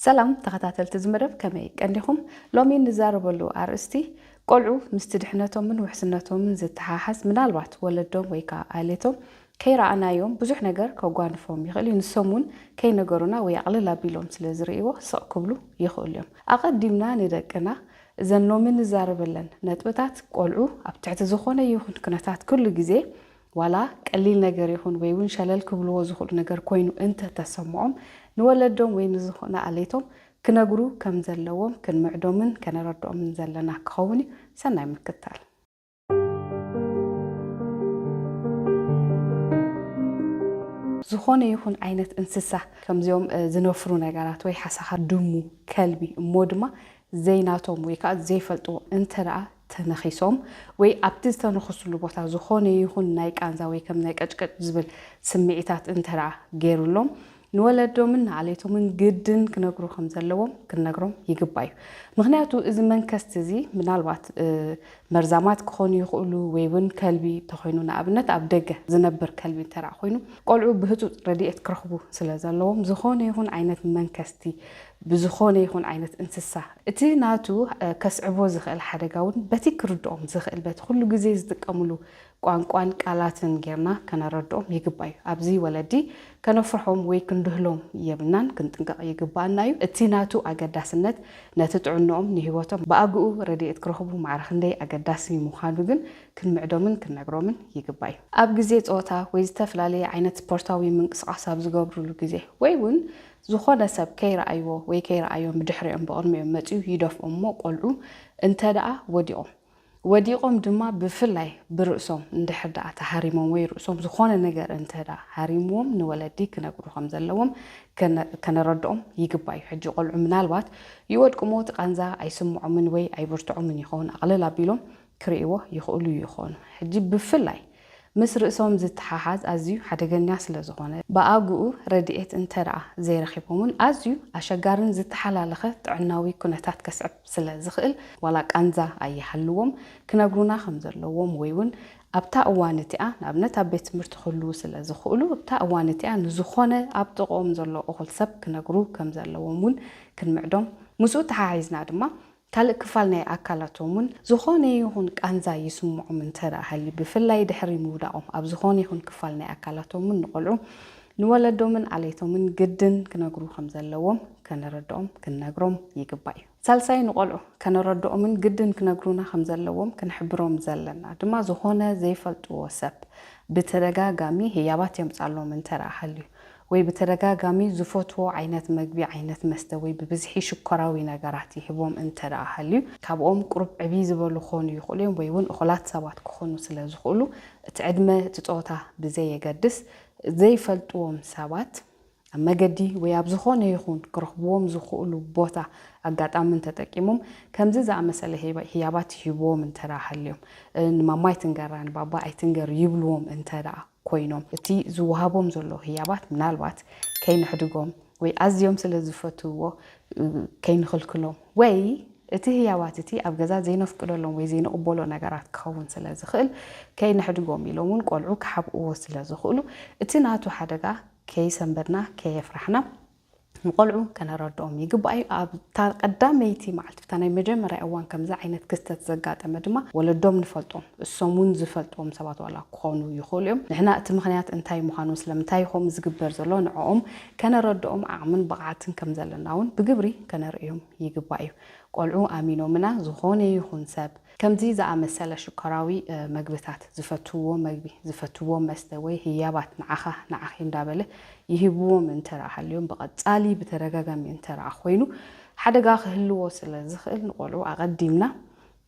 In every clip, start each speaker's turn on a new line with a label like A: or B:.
A: ሰላም ተኸታተልቲ እዚ መደብ ከመይ ቀኒኹም? ሎሚ እንዛረበሉ ኣርእስቲ ቆልዑ ምስቲ ድሕነቶምን ውሕስነቶምን ዝተሓሓዝ ምናልባት ወለዶም ወይ ከኣ ኣሌቶም ከይረኣናዮም ብዙሕ ነገር ከጓንፎም ይኽእል እዩ ንሶም እውን ከይነገሩና ወይ ኣቕልል ኣቢሎም ስለ ዝርእይዎ ስቕ ክብሉ ይኽእሉ እዮም ኣቐዲምና ንደቅና እዘን ሎሚ እንዛረበለን ነጥብታት ቆልዑ ኣብ ትሕቲ ዝኾነ ይኹን ኩነታት ኩሉ ግዜ ዋላ ቀሊል ነገር ይኹን ወይ እውን ሸለል ክብልዎ ዝኽእሉ ነገር ኮይኑ እንተ ተሰምዖም ንወለዶም ወይ ንዝኾነ ኣለይቶም ክነግሩ ከም ዘለዎም ክንምዕዶምን ከነረድኦምን ዘለና ክኸውን እዩ። ሰናይ ምክታል። ዝኾነ ይኹን ዓይነት እንስሳ ከምዚኦም ዝነፍሩ ነገራት ወይ ሓሳኻ ድሙ፣ ከልቢ እሞ ድማ ዘይናቶም ወይ ከዓ ዘይፈልጥዎ እንተ ደኣ ተነኺሶም ወይ ኣብቲ ዝተነኽስሉ ቦታ ዝኾነ ይኹን ናይ ቃንዛ ወይ ከም ናይ ቀጭቀጭ ዝብል ስምዒታት እንተደኣ ገይሩሎም ንወለዶምን ንዓሌቶምን ግድን ክነግሩ ከም ዘለዎም ክንነግሮም ይግባእ እዩ። ምኽንያቱ እዚ መንከስቲ እዚ ምናልባት መርዛማት ክኾኑ ይኽእሉ ወይ እውን ከልቢ እንተኾይኑ ንኣብነት ኣብ ደገ ዝነብር ከልቢ እንተደኣ ኮይኑ ቆልዑ ብህፁፅ ረድኤት ክረኽቡ ስለ ዘለዎም ዝኾነ ይኹን ዓይነት መንከስቲ ብዝኾነ ይኹን ዓይነት እንስሳ እቲ ናቱ ከስዕቦ ዝኽእል ሓደጋ እውን በቲ ክርድኦም ዝኽእል በቲ ኩሉ ግዜ ዝጥቀምሉ ቋንቋን ቃላትን ጌርና ከነረድኦም ይግባእ እዩ። ኣብዚ ወለዲ ከነፍርሖም ወይ ክንድህሎም የብልናን ክንጥንቀቕ ይግብኣና እዩ። እቲ ናቱ ኣገዳስነት ነቲ ጥዕንኦም ንህይወቶም ብኣግኡ ረድኤት ክረኽቡ ማዕረ ክንደይ ኣገዳሲ ምዃኑ ግን ክንምዕዶምን ክንነግሮምን ይግባእ እዩ። ኣብ ግዜ ጸወታ ወይ ዝተፈላለየ ዓይነት ስፖርታዊ ምንቅስቓስ ኣብ ዝገብርሉ ግዜ ወይ እውን ዝኾነ ሰብ ከይረኣይዎ ወይ ከይረኣዮም ብድሕሪኦም ብቕድሚኦም መጺኡ ይደፍኦም እሞ ቆልዑ እንተደኣ ወዲቖም ወዲቖም ድማ ብፍላይ ብርእሶም እንድሕር ደኣ ተሃሪሞም ወይ ርእሶም ዝኾነ ነገር እንተደኣ ሃሪምዎም ንወለዲ ክነግሩ ከም ዘለዎም ከነረድኦም ይግባእ እዩ። ሕጂ ቆልዑ ምናልባት ይወድቁ እሞ እቲ ቃንዛ ኣይስምዖምን ወይ ኣይብርትዖምን ይኸውን ኣቕልል ኣቢሎም ክርእይዎ ይኽእሉ ይኾኑ። ሕጂ ብፍላይ ምስ ርእሶም ዝተሓሓዝ ኣዝዩ ሓደገኛ ስለ ዝኾነ፣ ብኣግኡ ረድኤት እንተ ደኣ ዘይረኺቦም'ውን ኣዝዩ ኣሸጋርን ዝተሓላለኸ ጥዕናዊ ኩነታት ከስዕብ ስለ ዝኽእል፣ ዋላ ቃንዛ ኣይሃልዎም ክነግሩና ከም ዘለዎም ወይ'ውን ኣብታ እዋን እቲኣ ንኣብነት ኣብ ቤት ትምህርቲ ክህልዉ ስለ ዝኽእሉ ኣብታ እዋን እቲኣ ንዝኾነ ኣብ ጥቕኦም ዘሎ እኹል ሰብ ክነግሩ ከም ዘለዎም'ውን ክንምዕዶም ምስኡ ተሓሒዝና ድማ ካልእ ክፋል ናይ ኣካላቶም እውን ዝኾነ ይኹን ቃንዛ ይስምዖም እንተድኣ ሃልዩ ብፍላይ ድሕሪ ምውዳቖም ኣብ ዝኾነ ይኹን ክፋል ናይ ኣካላቶም እውን ንቆልዑ ንወለዶምን ኣለይቶምን ግድን ክነግሩ ከምዘለዎም ከነረድኦም ክንነግሮም ይግባእ እዩ። ሳልሳይ ንቆልዑ ከነረድኦምን ግድን ክነግሩና ከምዘለዎም ክንሕብሮም ዘለና ድማ ዝኾነ ዘይፈልጥዎ ሰብ ብተደጋጋሚ ህያባት የምጽኣሎም እንተድኣ ሃልዩ ወይ ብተደጋጋሚ ዝፈትዎ ዓይነት መግቢ፣ ዓይነት መስተ ወይ ብብዝሒ ሽኮራዊ ነገራት ይህቦም እንተድኣ ሃልዩ፣ ካብኦም ቁሩብ ዕብይ ዝበሉ ክኾኑ ይኽእሉ እዮም ወይ እውን እኹላት ሰባት ክኾኑ ስለ ዝኽእሉ፣ እቲ ዕድመ እቲ ጾታ ብዘየገድስ ዘይፈልጥዎም ሰባት ኣብ መገዲ ወይ ኣብ ዝኾነ ይኹን ክረኽብዎም ዝኽእሉ ቦታ ኣጋጣምን ተጠቂሞም ከምዚ ዝኣመሰለ ህያባት ይህብዎም እንተድኣ ሃልዮም፣ ንማማ ኣይትንገራ ንባባ ኣይትንገር ይብልዎም እንተድኣ። ኮይኖም እቲ ዝወሃቦም ዘሎ ህያባት ምናልባት ከይነሕድጎም ወይ ኣዝዮም ስለ ዝፈትውዎ ከይንኽልክሎም ወይ እቲ ህያባት እቲ ኣብ ገዛ ዘይነፍቅደሎም ወይ ዘይንቕበሎ ነገራት ክኸውን ስለ ዝኽእል ከይነሕድጎም ኢሎም እውን ቆልዑ ክሓብእዎ ስለ ዝኽእሉ እቲ ናቱ ሓደጋ ከይሰንበድና ከየፍራሕና ንቆልዑ ከነረድኦም ይግባእ እዩ። ኣብታ ቀዳመይቲ መዓልቲ ብታ ናይ መጀመርያ እዋን ከምዚ ዓይነት ክስተት ዘጋጠመ ድማ ወለዶም ንፈልጦም እሶም ውን ዝፈልጥዎም ሰባት ዋላ ክኾኑ ይኽእሉ እዮም። ንሕና እቲ ምኽንያት እንታይ ምዃኑ ስለምንታይ ኸምኡ ዝግበር ዘሎ ንዕኦም ከነረድኦም ዓቕምን ብቕዓትን ከም ዘለና ውን ብግብሪ ከነርእዮም ይግባእ እዩ። ቆልዑ ኣሚኖምና ዝኾነ ይኹን ሰብ ከምዚ ዝኣመሰለ ሽኮራዊ መግብታት፣ ዝፈትውዎ መግቢ፣ ዝፈትውዎ መስተ ወይ ህያባት ንዓኻ ንዓኺ እንዳበለ ይህብዎም እንተድኣ ሃልዮም ብቐጻሊ ብተደጋጋሚ እንተድኣ ኮይኑ ሓደጋ ክህልዎ ስለ ዝኽእል ንቆልዑ ኣቐዲምና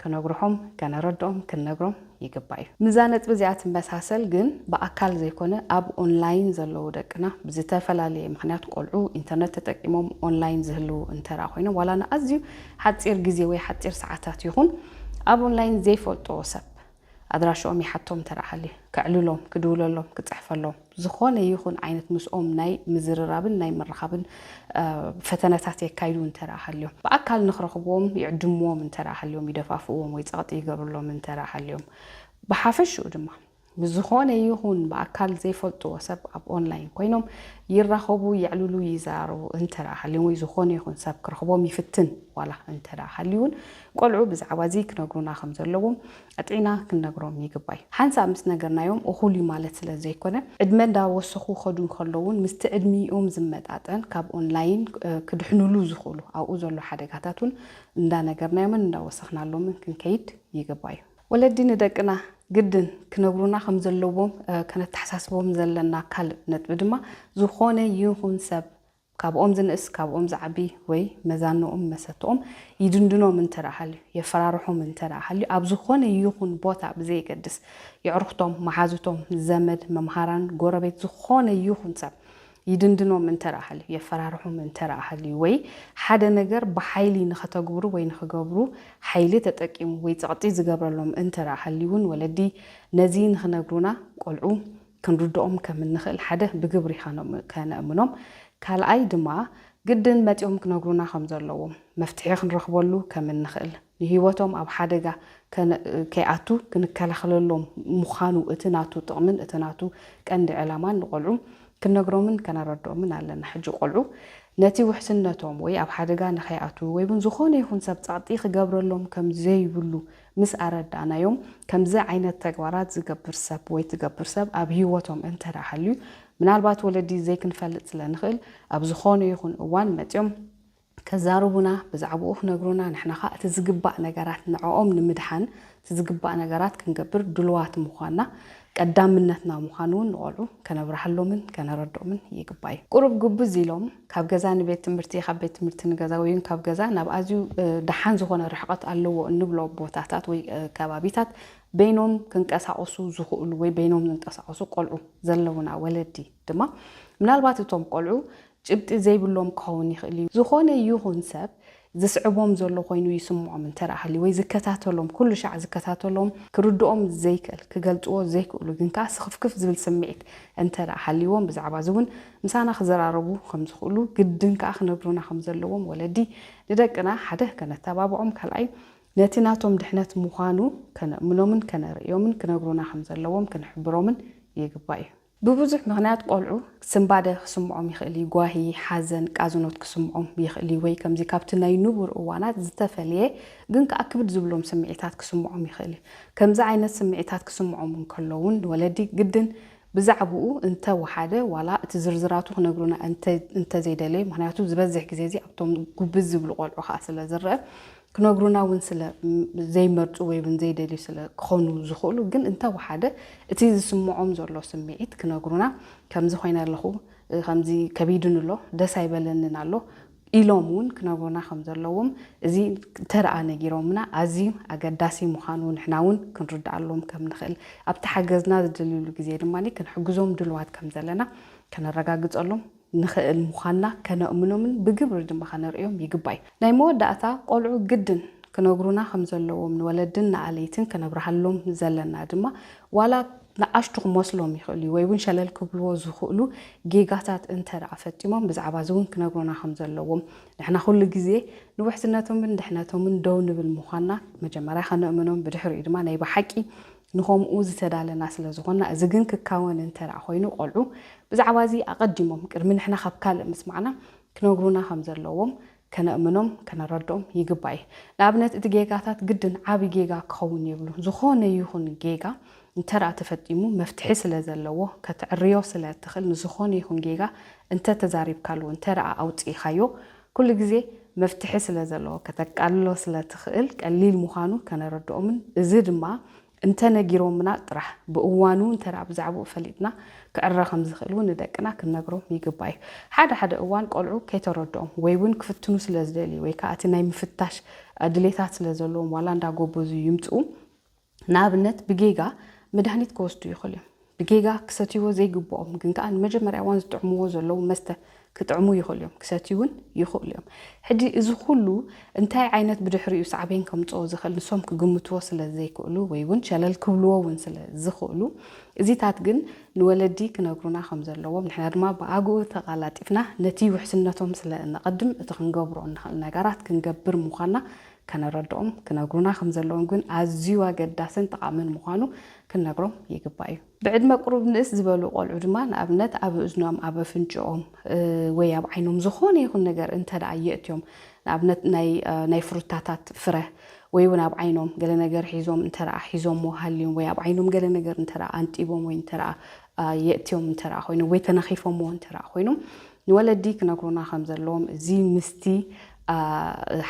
A: ክነግርሖም ከነረድኦም ክንነግሮም ይግባእ እዩ። ምስዛ ነጥቢ እዚኣ ትመሳሰል ግን ብኣካል ዘይኮነ ኣብ ኦንላይን ዘለዉ ደቅና ብዝተፈላለየ ምኽንያት ቆልዑ ኢንተርነት ተጠቂሞም ኦንላይን ዝህልዉ እንተድኣ ኮይኖም ዋላ ንኣዝዩ ሓጺር ግዜ ወይ ሓጺር ሰዓታት ይኹን ኣብ ኦንላይን ዘይፈልጦ ሰብ ኣድራሽኦም ይሓቶም እንተ ሃልዩ፣ ከዕልሎም፣ ክድውለሎም፣ ክጽሕፈሎም፣ ዝኾነ ይኹን ዓይነት ምስኦም ናይ ምዝርራብን ናይ ምርኻብን ፈተነታት የካይዱ እንተ ሃልዮም፣ ብኣካል ንክረኽብዎም ይዕድምዎም እንተ ሃልዮም፣ ይደፋፍእዎም ወይ ጸቕጢ ይገብርሎም እንተ ሃልዮም፣ ብሓፈሽኡ ድማ። ንዝኾነ ይኹን ብኣካል ዘይፈልጥዎ ሰብ ኣብ ኦንላይን ኮይኖም ይራኸቡ፣ የዕልሉ፣ ይዘራረቡ እንተድኣ ሃልዮም ወይ ዝኾነ ይኹን ሰብ ክረኽቦም ይፍትን ዋላ እንተድኣ ሃልዩ'ውን ቆልዑ ብዛዕባ'ዚ ክነግሩና ከም ዘለዎም ኣጥዒና ክንነግሮም ይግባይ። ሓንሳእ ምስ ነገርናዮም እኹል እዩ ማለት ስለ ዘይኮነ ዕድመ እንዳወሰኹ ክኸዱ እንከለዉን ምስቲ ዕድሚኦም ዝመጣጠን ካብ ኦንላይን ክድሕንሉ ዝኽእሉ ኣብኡ ዘሎ ሓደጋታት'ውን እንዳነገርናዮምን እንዳወሰኽናሎምን ክንከይድ ይግባይ። ወለዲ ንደቅና ግድን ክነብሩና ከም ዘለዎም ከነተሓሳስቦም ዘለና ካልእ ነጥቢ ድማ፣ ዝኾነ ይኹን ሰብ፣ ካብኦም ዝንእስ፣ ካብኦም ዝዓቢ፣ ወይ መዛኑኦም መሰትኦም ይድንድኖም እንተድኣ ሃልዩ፣ የፈራርሖም እንተድኣ ሃልዩ፣ ኣብ ዝኾነ ይኹን ቦታ ብዘየገድስ፣ የዕሩኽቶም፣ መሓዙቶም፣ ዘመድ፣ መምሃራን፣ ጎረቤት፣ ዝኾነ ይኹን ሰብ ይድንድኖም እንተ ሃልዩ፣ የፈራርሖም እንተ ሃልዩ፣ ወይ ሓደ ነገር ብሓይሊ ንኸተግብሩ ወይ ንኽገብሩ ሓይሊ ተጠቂሙ ወይ ጸቕጢ ዝገብረሎም እንተ ሃልዩ እውን ወለዲ ነዚ ንኽነግሩና ቆልዑ ክንርድኦም ከም እንኽእል ሓደ ብግብሪ ከነእምኖም ካልኣይ ድማ ግድን መጺኦም ክነግሩና ከም ዘለዎም መፍትሒ ክንረኽበሉ ከም እንኽእል ንህይወቶም ኣብ ሓደጋ ከይኣቱ ክንከላኸለሎም ምዃኑ እቲ ናቱ ጥቕምን እቲ ናቱ ቀንዲ ዕላማን ንቆልዑ ክንነግሮምን ከነረድኦምን ኣለና። ሕጂ ቆልዑ ነቲ ውሕስነቶም ወይ ኣብ ሓደጋ ንኸይኣትዉ ወይ'ውን ዝኾነ ይኹን ሰብ ጸቕጢ ክገብረሎም ከም ዘይብሉ ምስ ኣረዳእናዮም ከምዚ ዓይነት ተግባራት ዝገብር ሰብ ወይ ትገብር ሰብ ኣብ ህይወቶም እንተ ሃልዩ ምናልባት ወለዲ ዘይክንፈልጥ ስለ ንኽእል ኣብ ዝኾነ ይኹን እዋን መጺኦም ከዛርቡና ብዛዕብኡ ክነግሩና ንሕና ከኣ እቲ ዝግባእ ነገራት ንዕኦም ንምድሓን እቲ ዝግባእ ነገራት ክንገብር ድሉዋት ምዃንና ቀዳምነትና ምዃኑ ውን ንቖልዑ ከነብርሃሎምን ከነረድኦምን ይግባእ'ዩ። ቁሩብ ግብዝ ኢሎም ካብ ገዛ ንቤት ትምህርቲ ካብ ቤት ትምህርቲ ንገዛ ወይውን ካብ ገዛ ናብ ኣዝዩ ደሓን ዝኾነ ርሕቐት ኣለዎ እንብሎ ቦታታት ወይ ከባቢታት በይኖም ክንቀሳቐሱ ዝኽእሉ ወይ በይኖም ዝንቀሳቐሱ ቆልዑ ዘለዉና ወለዲ ድማ ምናልባት እቶም ቆልዑ ጭብጢ ዘይብሎም ክኸውን ይኽእል እዩ። ዝኾነ ይኹን ሰብ ዝስዕቦም ዘሎ ኮይኑ ይስምዖም እንተ ሃልዩ ወይ ዝከታተሎም ኩሉ ሻዕ ዝከታተሎም ክርድኦም ዘይክእል ክገልጽዎ ዘይክእሉ ግን ከኣ ስኽፍክፍ ዝብል ስምዒት እንተ ሃልይዎም ብዛዕባ እዚ እውን ምሳና ክዘራረቡ ከም ዝኽእሉ ግድን ከኣ ክነግሩና ከም ዘለዎም ወለዲ ንደቅና ሓደ ከነተባብዖም ካልኣይ ነቲ ናቶም ድሕነት ምዃኑ ከነእምኖምን ከነርእዮምን ክነግሩና ከም ዘለዎም ክንሕብሮምን ይግባእ እዩ። ብብዙሕ ምኽንያት ቆልዑ ስንባደ ክስምዖም ይኽእል እዩ፣ ጓሂ፣ ሓዘን፣ ቃዝኖት ክስምዖም ይኽእል እዩ፣ ወይ ከምዚ ካብቲ ናይ ንቡር እዋናት ዝተፈልየ ግን ከኣ ክብድ ዝብሎም ስምዒታት ክስምዖም ይኽእል እዩ። ከምዚ ዓይነት ስምዒታት ክስምዖም እንከሎ እውን ንወለዲ ግድን ብዛዕብኡ እንተ ወሓደ ዋላ እቲ ዝርዝራቱ ክነግሩና እንተ እንተ ዘይደለዩ ምኽንያቱ ዝበዝሕ ግዜ እዚ ኣብቶም ጉብዝ ዝብሉ ቆልዑ ከኣ ስለ ዝረኣ ክነግሩና እውን ስለ ዘይመርጹ ወይ እውን ዘይደልዩ ስለ ክኾኑ ዝኽእሉ ግን እንተ ወሓደ እቲ ዝስምዖም ዘሎ ስምዒት ክነግሩና ከምዚ ኮይነ ኣለኹ ከምዚ ከቢዱኒ ኣሎ ደስ ኣይበለንን ኣሎ ኢሎም እውን ክነግሩና ከም ዘለዎም እዚ ተርኣ ነጊሮምና ኣዝዩ ኣገዳሲ ምዃኑ ንሕና እውን ክንርድኣሎም ከም ንኽእል ኣብቲ ሓገዝና ዝደልዩሉ ግዜ ድማ ክንሕግዞም ድልዋት ከም ዘለና ከነረጋግጸሎም ንኽእል ምዃንና ከነእምኖምን ብግብሪ ድማ ከነርእዮም ይግባይ። ናይ መወዳእታ ቆልዑ ግድን ክነግሩና ከም ዘለዎም ንወለድን ንኣለይትን ከነብርሃሎም ዘለና ድማ ዋላ ንኣሽቱ ክመስሎም ይኽእል'ዩ ወይ ውን ሸለል ክብልዎ ዝኽእሉ ጌጋታት እንተ ደኣ ፈጺሞም ብዛዕባ'ዚ ውን ክነግሩና ከም ዘለዎም ንሕና ኩሉ ግዜ ንውሕስነቶምን ድሕነቶምን ደው ንብል ምዃንና መጀመርያ ከነእምኖም ብድሕሪኡ ድማ ናይ ብሓቂ ንኸምኡ ዝተዳለና ስለ ዝኾንና፣ እዚ ግን ክካወን እንተ ደኣ ኾይኑ፣ ቈልዑ ብዛዕባ እዚ ኣቐዲሞም፣ ቅድሚ ንሕና ኻብ ካልእ ምስማዕና፣ ክነግሩና ኸም ዘለዎም ከነእምኖም፣ ከነረድኦም ይግባእ እዩ። ንኣብነት፣ እቲ ጌጋታት ግድን ዓብዪ ጌጋ ክኸውን የብሉን። ዝኾነ ይኹን ጌጋ እንተ ደኣ ተፈጢሙ፣ መፍትሒ ስለ ዘለዎ፣ ከተዐርዮ ስለ እትኽእል፣ ንዝኾነ ይኹን ጌጋ እንተ ተዛሪብካሉ፣ እንተ ደኣ ኣውጺእኻዮ፣ ኩሉ ግዜ መፍትሒ ስለ ዘለዎ ከተቃልሎ ስለ ትኽእል ቀሊል ምዃኑ ከነረድኦምን እዚ ድማ እንተ ነጊሮምና ጥራሕ ብእዋኑ እንተ ብዛዕብኡ ፈሊጥና ክዕረ ከም ዝኽእል እውን ንደቅና ክንነግሮም ይግባእ እዩ። ሓደ ሓደ እዋን ቆልዑ ከይተረድኦም ወይ እውን ክፍትኑ ስለ ዝደልዩ ወይ ከዓ እቲ ናይ ምፍታሽ ድሌታት ስለ ዘለዎም ዋላ እንዳጎበዙ ይምፅኡ ንኣብነት ብጌጋ መድሃኒት ክወስዱ ይኽእሉ እዮም። ብጌጋ ክሰትይዎ ዘይግብኦም ግን ከኣ ንመጀመርያ እዋን ዝጥዕምዎ ዘለዉ መስተ ክጥዕሙ ይኽእሉ እዮም፣ ክሰትዩ እውን ይኽእሉ እዮም። ሕጂ እዚ ኩሉ እንታይ ዓይነት ብድሕሪኡ ሳዕቤን ከምጽኦ ዝኽእል ንሶም ክግምትዎ ስለ ዘይክእሉ ወይ እውን ሸለል ክብልዎ እውን ስለ ዝኽእሉ እዚታት ግን ንወለዲ ክነግሩና ከም ዘለዎም ንሕና ድማ ብኣግኡ ተቓላጢፍና ነቲ ውሕስነቶም ስለ እነቐድም እቲ ክንገብሮ እንኽእል ነገራት ክንገብር ምዃንና ከነረድኦም ክነግሩና ከም ዘለዎም ግን ኣዝዩ ኣገዳስን ጠቓምን ምዃኑ ክንነግሮም ይግባእ እዩ። ብዕድመ ቁሩብ ንእስ ዝበሉ ቆልዑ ድማ ንኣብነት ኣብ እዝኖም፣ ኣብ ኣፍንጭኦም ወይ ኣብ ዓይኖም ዝኾነ ይኹን ነገር እንተደኣ የእትዮም ንኣብነት ናይ ናይ ፍሩታታት ፍረ ወይ እውን ኣብ ዓይኖም ገለ ነገር ሒዞም እንተደኣ ሒዞምዎ ሃልዮም ወይ ኣብ ዓይኖም ገለ ነገር እንተደኣ ኣንጢቦም ወይ እንተደኣ የእትዮም እንተደኣ ኮይኖም ወይ ተነኺፎምዎ እንተደኣ ኮይኖም ንወለዲ ክነግሩና ከም ዘለዎም እዚ ምስቲ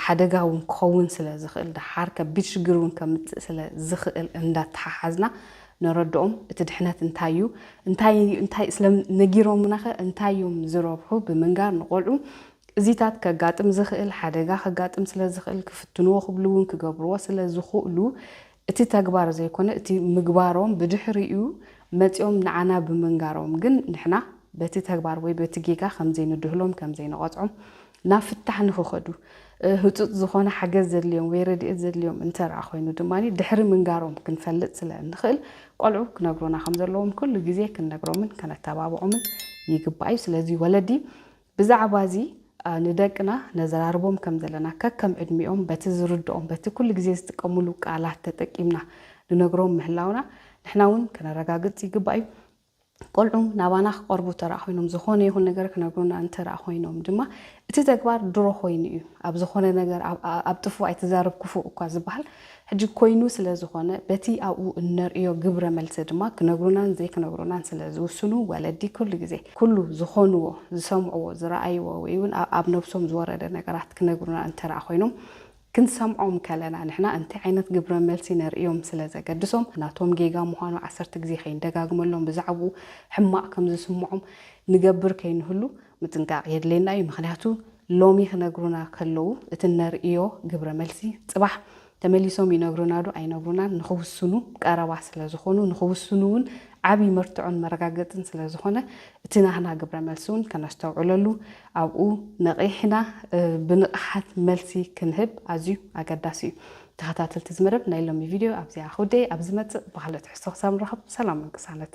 A: ሓደጋ እውን ክኸውን ስለ ዝኽእል ደሓር ከቢድ ሽግር እውን ከምጽእ ስለ ዝኽእል እንዳተሓሓዝና ነረድኦም እቲ ድሕነት እንታይ እዩ እንታይ እንታይ ስለ ነጊሮሙናኸ እንታይ እዮም ዝረብሑ ብምንጋር ንቆልዑ እዚታት ከጋጥም ዝኽእል ሓደጋ ከጋጥም ስለ ዝኽእል ክፍትንዎ ክብሉ እውን ክገብርዎ ስለ ዝኽእሉ እቲ ተግባር ዘይኮነ እቲ ምግባሮም ብድሕሪኡ መጺኦም ንዓና ብምንጋሮም ግን ንሕና በቲ ተግባር ወይ በቲ ጌጋ ከምዘይንድህሎም ከምዘይንቐጽዖም ናብ ፍታሕ ንኽኸዱ ህጹጽ ዝኾነ ሓገዝ ዘድልዮም ወይ ረድኤት ዘድልዮም እንተርኣ ኮይኑ ድማ ድሕሪ ምንጋሮም ክንፈልጥ ስለ እንኽእል ቆልዑ ክነግሩና ከምዘለዎም ኩሉ ግዜ ክንነግሮምን ከነተባብዖምን ይግባእ እዩ። ስለዚ ወለዲ ብዛዕባዚ ንደቅና ነዘራርቦም ከም ዘለና ከከም ዕድሚኦም በቲ ዝርድኦም በቲ ኩሉ ግዜ ዝጥቀምሉ ቃላት ተጠቂምና ንነግሮም ምህላውና ንሕና ውን ከነረጋግጽ ይግባእ እዩ። ቆልዑ ናባና ክቀርቡ ተረኣ ኮይኖም ዝኾነ ይኹን ነገር ክነግሩና እንተረኣ ኮይኖም ድማ እቲ ተግባር ድሮ ኮይኑ እዩ ኣብ ዝኾነ ነገር ኣብ ጥፉእ ኣይትዛረብ ኩፉእ እኳ ዝበሃል ሕጂ ኮይኑ ስለ ዝኾነ በቲ ኣብኡ እነርእዮ ግብረ መልሲ ድማ ክነግሩናን ዘይክነግሩናን ስለ ዝውስኑ ወለዲ ኩሉ ግዜ ኩሉ ዝኾንዎ ዝሰምዕዎ ዝረኣይዎ ወይ ውን ኣብ ነብሶም ዝወረደ ነገራት ክነግሩና እንተደኣ ኮይኖም ክንሰምዖም ከለና ንሕና እንታይ ዓይነት ግብረ መልሲ ነርእዮም ስለ ዘገድሶም ናቶም ጌጋ ምዃኑ ዓሰርተ ግዜ ከይንደጋግመሎም ብዛዕብኡ ሕማቕ ከም ዝስምዖም ንገብር ከይንህሉ ምጥንቃቕ የድልየና እዩ ምኽንያቱ ሎሚ ክነግሩና ከለዉ እቲ እነርእዮ ግብረ መልሲ ጽባሕ ተመሊሶም ይነግሩና ዶ ኣይነግሩናን ንኽውስኑ ቀረባ ስለ ዝኾኑ ንኽውስኑ እውን ዓቢ መርትዖን መረጋገጽን ስለ ዝኾነ እቲ ናህና ግብረ መልሲ እውን ከነስተውዕለሉ ኣብኡ ነቒሕና ብንቕሓት መልሲ ክንህብ ኣዝዩ ኣገዳሲ እዩ። ተኸታተልቲ እዚ መደብ ናይ ሎሚ ቪድዮ ኣብዚኣ ክውድእ እየ። ኣብ ዝመጽእ ብኻልእ ትሕዝቶ ክሳብ ንራኸብ ሰላምን ቅሳነት።